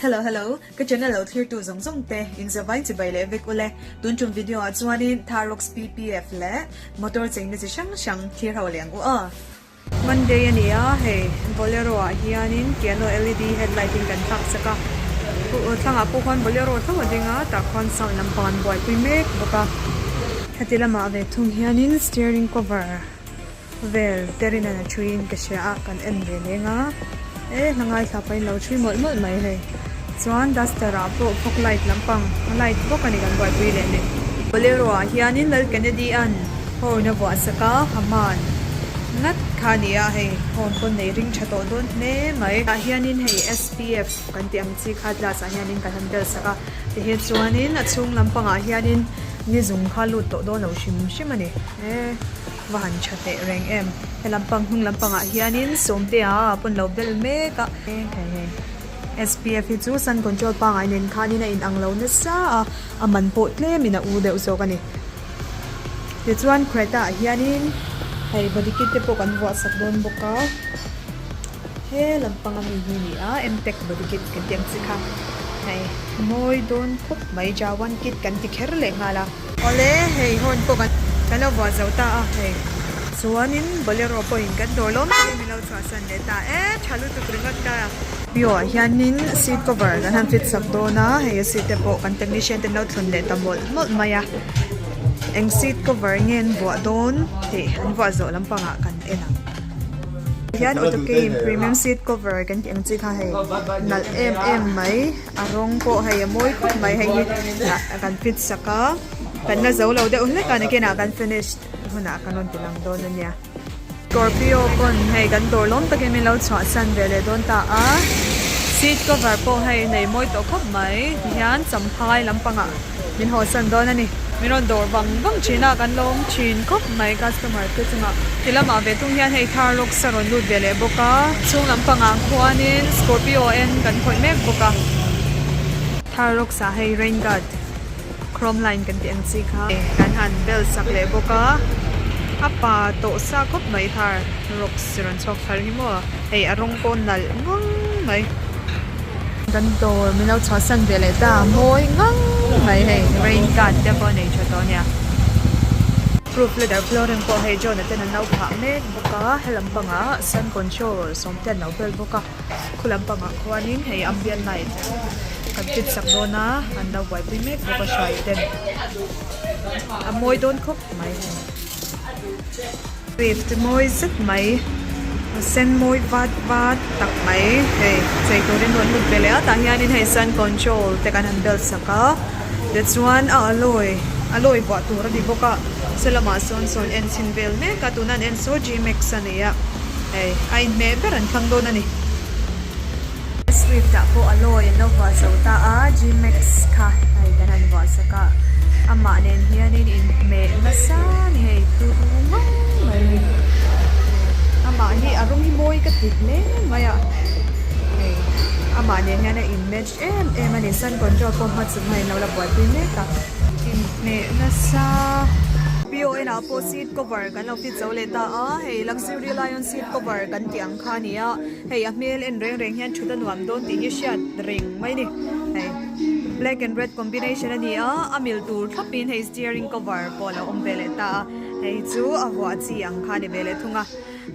Hello hello ka channel lo thlir tu zawng zawng te in zavai chi bai leh vek ule tun chum video ah chuan in tharox ppf leh motor chei na chi hrang hrang thlir ho leh ang u a. Monday a ni a, hei Bolero ah hianin piano LED headlight in kan tlak chak a, thlangah pawh khuan Bolero tho a ding a, tah khuan sound lam pawh an buaipui mek bawk a. Heti lamah ve thung hianin steering cover vel ter in a ṭhuin ka hria a, kan en ve leng a. E hlangai thla pahin lo ṭhi mawlh mawlh mai hei. Chuan duster ah pawh fog light lampang a light bawk a ni kan buaipui leh leh. Bolero ah hianin Lal Kennedy an horn a vuah sak a, a man ngat kha a ni a, hei horn pawn nei ring ṭha tawh dawn hle mai. Tah hianin hei SPF kan tih ang chi kha glass ah hianin kan han bel sak a, ti hi chuanin a chhung lampangah hianin nizung kha lut tawh dawn lo hrim hrim a ni. E. Va han tha teh reng em. Helampang hnung lampangah hianin sawmtea a pawn lo ber mek a. SPF hi chu sun control pangai nen khanin a inang lo nasa a, a man pawh tlem in a u deuh zawk a ni. Tichuan Creta ah hianin hei body kit te pawh kan vuah sak dawn bawk a, he lampang ami hi a ni a, Emtech body kit kan tih ang chi kha. Hei mawi dawn khawp mai, Jawan kit kan ti kher leh nghal a. Awle hei hawn pawh kan kan lo vuah zo ta a hei chuanin bolero pawhin kan dawr lawm tak in min lo chhuahsan leh ta e tha lutuk ringawt ta. Pio ah hianin seat cover kan han fit sak dawn a hei a seat te pawh kan technician te an lo thlun leh ta mawlh mawlh mai a eng seat cover nge an vuah dawn tih an vuah zawh lampang ah kan en ang hian auto key in premium seat cover kan tih ang chi kha hei nalh em em mai. a rawng pawh hei a mawi khawp mai hei hi ah kan fit sak a kan la zo lo deuh hlek a ni kena kan finish hunah ka rawn ti lang dawn a nia scorpio pawn hei kan dawr lawm takin min lo chhuah san ve leh dawn ta a seat cover pawh hei nei mawi tawh khawp mai tihian cham phai lampangah-- min haw san dawn a ni. Min rawn dawr bang bang thin a, kan lawm thin khawp mai customer te chunga. Ti lamah ve tung hian hei thar roksa rawn lut ve leh bawk a. Chhung lam pangah khuanin Scorpio eng kan khawih mek bawk a. Thar roksa hei rain guard chrome line kan tih ang chi kha kan han bel sak leh bawk a. A pa tawh sa khawp mai thar roksa rawn chhuak thar hi maw. Hei a rawng pawh nalh ngang mai. Kan dawr min lo chhuah san ve leh ta a mawi ngang mai hei rain guard te pawh a nei tha tawh a nia. Proof letter flooring pawh hei John-a ten an lo phah mek bawk a, helam pangah sun control sawm te an lo bel bawk a, khua lam pangah khuanin hei ambient light kan fit sak dawn a, an lo buaipui mek bawk a hruai ten a mawi dawn khawp mai. Swift te mawi zet mai, a sen mawi vat vat tak mai hei chei turin rawn hlut ve leh a, tah hian hei sun control te kan han bel sak a, tichuan a alloy alloy vuah tur a ni bawk a, saw lamah sawn sawn en chhin vel mek a, tuna an en saw G-max a ni a, hei a inhmeh ber an thlang dawn a ni. Swift ah pawh a lawi an lo vuahzo ta a, Gmax kha hei kan han vuahsak a, amah nen hianin inhmeh nasa ngei tur ngawng mai a ni. Amah hi a rawng hi mawi ka ti hle mai a, hei amah nen hian a inmatch em em a ni, Sun Control pawh hma chu hei an lo la buaipui mek a, inhmeh nasa PON ah pawh seat cover kan lo fit zo leh ta a, hei Luxury Lion seat cover kan tih ang kha a ni a. Hei a hmel en reng reng hian thut a nuam dawn tih hi a hriat reng mai ni. Hei black and red combination a ni a, a mil tur thlap in hei steering cover pawh a lo awm ve leh ta a, hei hi chu a vuah chi ang kha a ni ve leh thung a.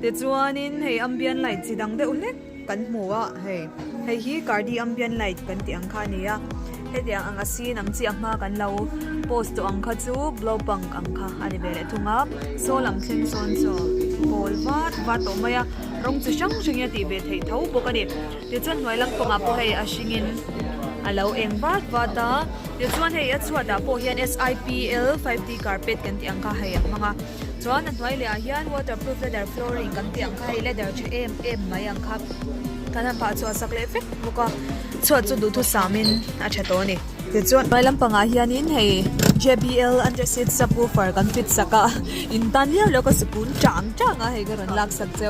Tichuan in hei ambient light chi dang deuh hlek kan hmu a, hei hei hi Cardi ambient light kan tih ang kha a ni a. Hetiang ang a sin ang chiah hma kan lo post tawh ang kha chu blow punk ang kha a ni ve leh thung a, saw lam thleng sawn chu pawl vat vat tawh mai a, rawng chi hrang hrangin a tih ve thei tho bawk a ni. Tichuan hnuai lam pawngah pawh hei a hringin a lo eng vat vat a, tichuan hei a chhuatah pawh hian SIPL five D carpet kan tih ang kha hei a hmang a. chuan a hnuai lehah hian waterproof leather flooring kan tih ang kha hei leather tha em em mai ang kha kan han phah chhuah sak leh vek bawk a chhuat chu duhthut sam in a tha tawh a ni tichuan hnuai lam pangah hian in hei JBL under seat subwoofer kan fit sak a in tan hliar lo ka sikun chang chang a hei ka rawn lak sak che.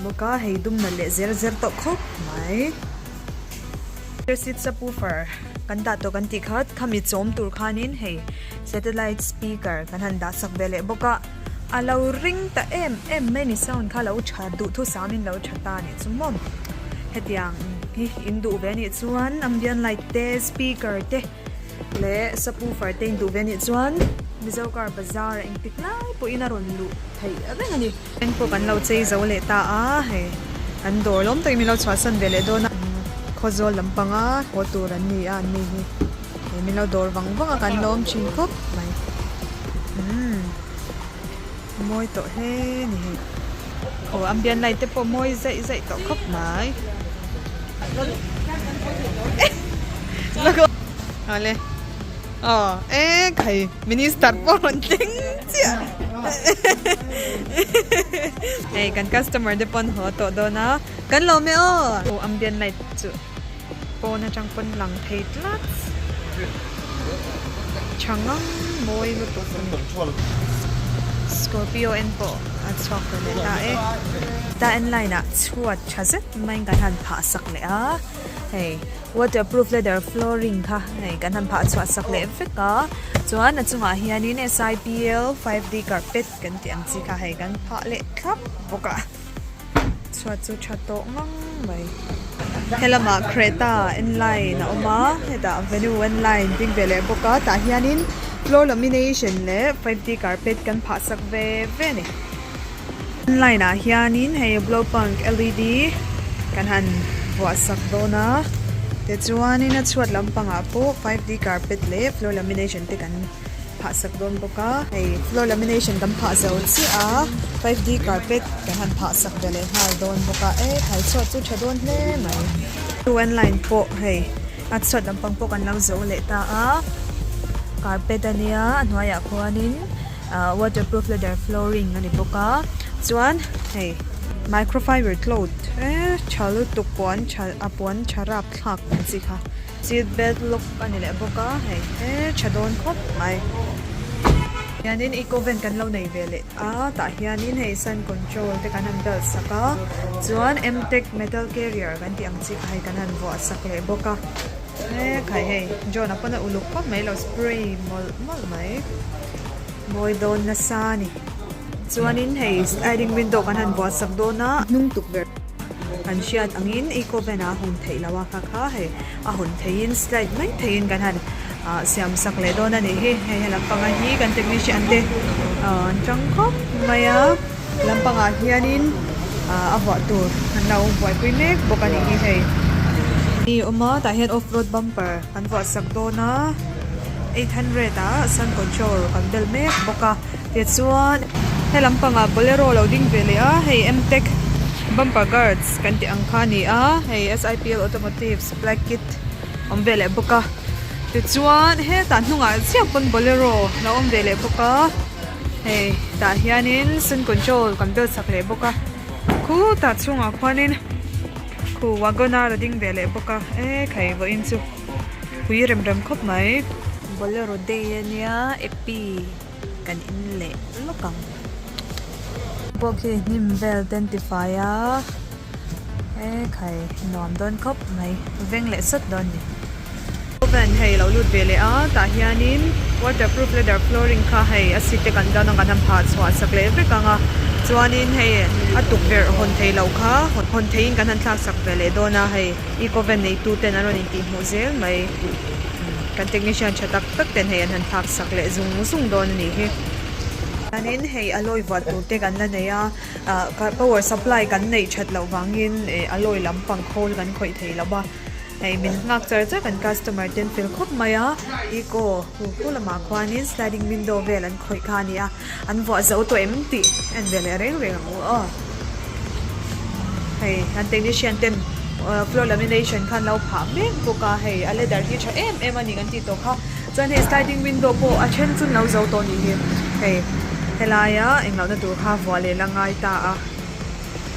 Bawk a, hei dumna leh zer zer tawh khawp mai. Rear seat subwoofer kan dah tawh kan tih kha khami chawm tur khanin hei satellite speaker kan han dah sak ve leh bawk a, a lo ring ta em em mai ni sound kha lo tha duhthusam in lo tha ta nih chu maw hetiang hi in duh ve anih chuan ambient light te speaker te leh subwoofer te in duh ve anih chuan Mizo car bazar a engtik lai pawhin a rawn luh theih vek ani. Eng pawh kan lo chei zo leh ta a, hei kan dawr lawm takin min lo chhuahsan ve leh dawn a, Khawzawl lam panga haw tur an ni a an ni hi, hei min lo dawr vang vang a kan lawm thin khawp mai, umm mawi tawh hle ni hei, aw Ambian Lai te pawh mawi zaih zaih tawh khawp mai, Zalo. Aww e khai minister pawh rawn tleng chiah hei kan customer te pawn haw tawh dawn a kan lawm e aw aw ambient light chu pawn atang pawn lang thei tlat tha ngang mawi lutuk a ni scorpio en pawh a chhuak tawh leh ta e ta en line ah chhuat tha zet mai kan han phah sak leh a hei. Waterproof leather flooring kha hei kan han phah chhuah sak leh vek a, chuan a chungah hianin SIPL five D carpet kan tih ang chi kha hei kan phah leh thlap bawk a, chhuat chu tha tawh ngang mai. Helamah Creta N line a awm a, hetah Venue N line ding ve leh bawk a, tah hianin floor lamination leh five D carpet kan phah sak ve ve a ni. Online ah hianin hei Blowpunk LED kan han vuahsak dawn a, tichuanin a chhuat lampangah pawh five D carpet leh floor lamination te kan phahsak dawn bawk a, hei floor lamination kan phah zo chiah a, five D carpet kan han phahsak ve leh nghal dawn bawk a, e khai chhuat chu tha dawn hle mai. Chu an line pawh hei a chhuat lampang pawh kan lo zo leh ta a, carpet a nia a hnuaiah khuanin. ahh waterproof leather flooring a ni bawk a chuan hei microfiber cloth eee tha lutuk pawh an tha a pawh an tha rap thlak tih ang chi kha seat belt lock a ni leh bawk a hei eee tha dawn khawp mai hianin eco vent kan lo nei ve leh a tah hianin hei sun control te kan han belt sak a chuan m tech metal carrier kan tih ang chi kha hei kan han vuah sak leh bawk a. He khai hei John a pawn a uluk khawp mai lo spray mawlh mawlh mai bawi dawn nasa ni chuanin hei sliding window kan han buatsak dawn a hnung tukverh kan hriat angin eco van a hun theih lo a kha kha hei a hun theihin slide mai theihin kan han siam sak leh dawn a nih hi hei a lampang a hi kan technician te an chang khawp mai a. Lampangah hianin ahh a vuah tur an lo buaipui mek bawk a nih hi hei. Ni awm a, tah hian off road bumper an vuah sak dawn a, eight hundred ah sun control kan bel mek bawk a, tichuan he lampangah bolero lo ding ve leh a, hei mtech bumper guards kan tih ang kha a ni a, hei SIPL automotive supply kit awm ve leh bawk a, tichuan hetah hnungah chiah pawn bolero lo awm ve leh bawk a. hei tah hianin sun control kan bel chak leh bawk a khutah chhungah khuanin khu wagoner a ding ve leh bawk a e khai vawiin chu hui rem rem khawp mai bolero day a nia api kan in leh lawk ang pawh khi hnim vel ten tifai a. He khai nuam dawn khawp mai, veng leh sat dawn ni. Oven hei lo lut ve leh a, tah hianin waterproof leather flooring kha hei a seat te kan zar dawn kan han phah chhuah sak leh vek ang a, chuanin hei a tukverh hawn thei loh kha hawn theiin kan han thlak sak ve leh dawn a, hei Ecoven neitu ten an rawn intih hmuh zel mai, kan technician tha tak tak ten hei an han thlak sak leh zung zung dawn a nih hi. Chuanin hei alloy vuah tur te kan la nei a. Power supply kan neih that loh vangin alloy lam pang khawl kan khawih thei lo a, hei min nghak char char kan customer ten fel khawp mai a, eco hu hu lamah khuanin sliding window vel an khawih kha a ni a, an vuah zo tawh em tih a inve leh reng reng ang u aw. Hei an technician ten floor lamination kha an lo phah mek bawk a, hei a leather hi a tha em em a ni kan tih tawh kha. Chuan hei sliding window pawh a then chu an lo zo tawh ni hi. Hei helaia englohna tur kha vuah leh la ngai ta a,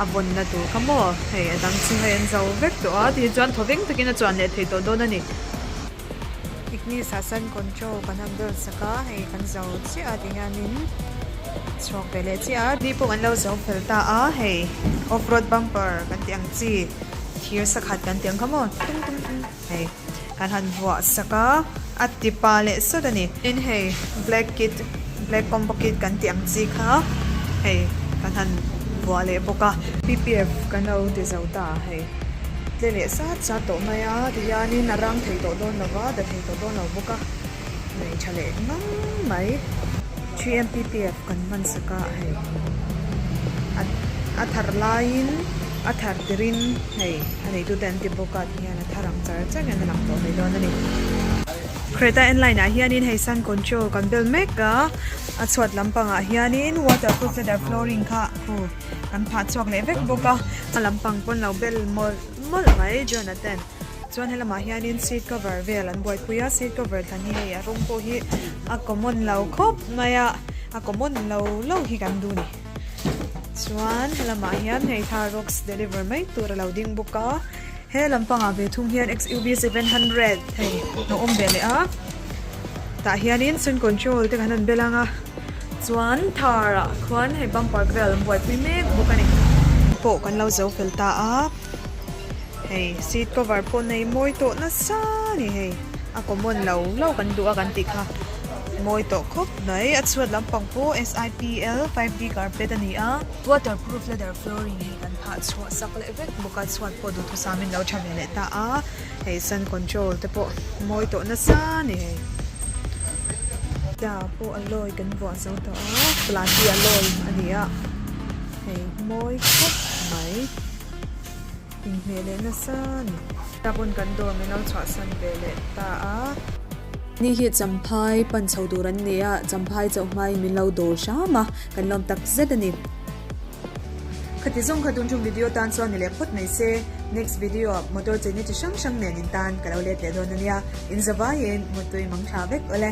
a vawnna tur kha maw hei a dang chu hei an zo vek tawh a, tih hi chuan thaw veng takin a chuan leh thei tawh dawn a ni. Ignis ah sun control kan han bel sak a, hei kan zo chiah a tih hianin chhuak ve leh chiah a. Ni pawh an lo zo fel ta a, hei off road bumper kan tih ang chi, thir sakhat kan tih ang kha maw, tum tum tum. Hei kan han vuah sak a, a tipa leh sawt a ni. Tin hei black kit, black combo kit kan tih ang chi kha hei kan han vuah leh bawk a. PPF kan lo ti zo ta a hei. Tle leh sat sat tawh mai a, ti hianin a rang thei tawh dawn lo va, da thei tawh dawn lo bawk a, nei tha leh ngang mai. 3M PPF. Kan hmansaka hei. A thar laiin a thar tirin hei a neitute an ti bawk at hian a thar ang char char hian a lang tawh ve dawn a ni. Creta N-Line ah hianin hei sun control kan bel mek a, a chhuat lampang ah hianin waterproof leather flooring kha hu kan phah chhuak leh vek bawk a. A lampang pawn lo bel mawlh mawlh mai Jonathan. Chuan he lamah hianin seat cover vel an buaipui a, seat cover tlan hi hei a rawng pawh hi a common lo khawp mai a, a common lo lo hi kan duh ni. Chuan he lamah hian hei thar rocks deliver mai tur a lo ding bawk a. He lam pangah ve thung hian XUV seven hundred hei a awm ve leh a, tah hianin sun control te kan han bel ang a, chuan thar ah khuan hei bumper vel an buaipui mek bawk a ni. Pawh kan lo zo fel ta a. Hei seat cover pawh nei mawi tawh nasa a ni hei. A common lo lo kan duh a kan tih kha mawi tawh khawp mai. A chhuat lampang pawh SIPL five D carpet a ni a. Waterproof leather flooring hi kan phah chhuah sak leh vek bawk a. Chhuat pawh duhthusam in lo tha ve leh ta a. Hei sun control te pawh mawi tawh nasa a ni hei. Car pawh alloy kan vuah zo tawh a. Plant hi alloy a ni a. Hei mawi khawp mai. Inhmeh leh nasa a ni. Ka pawn kan dawm i lo chhuahsan ve leh ta a. Ni hi Champhai pan chho tur an ni a, Champhai chauh hmain min lo dawr hram a, kan lawm tak zet a ni. Khati zawng kha tun chung video tan chuan ni leh phawt mai se, next video ah motor cheina chi hrang hrang nen in tan ka lo let leh dawn a nia, in zavaiin mutui mangtha vek awle.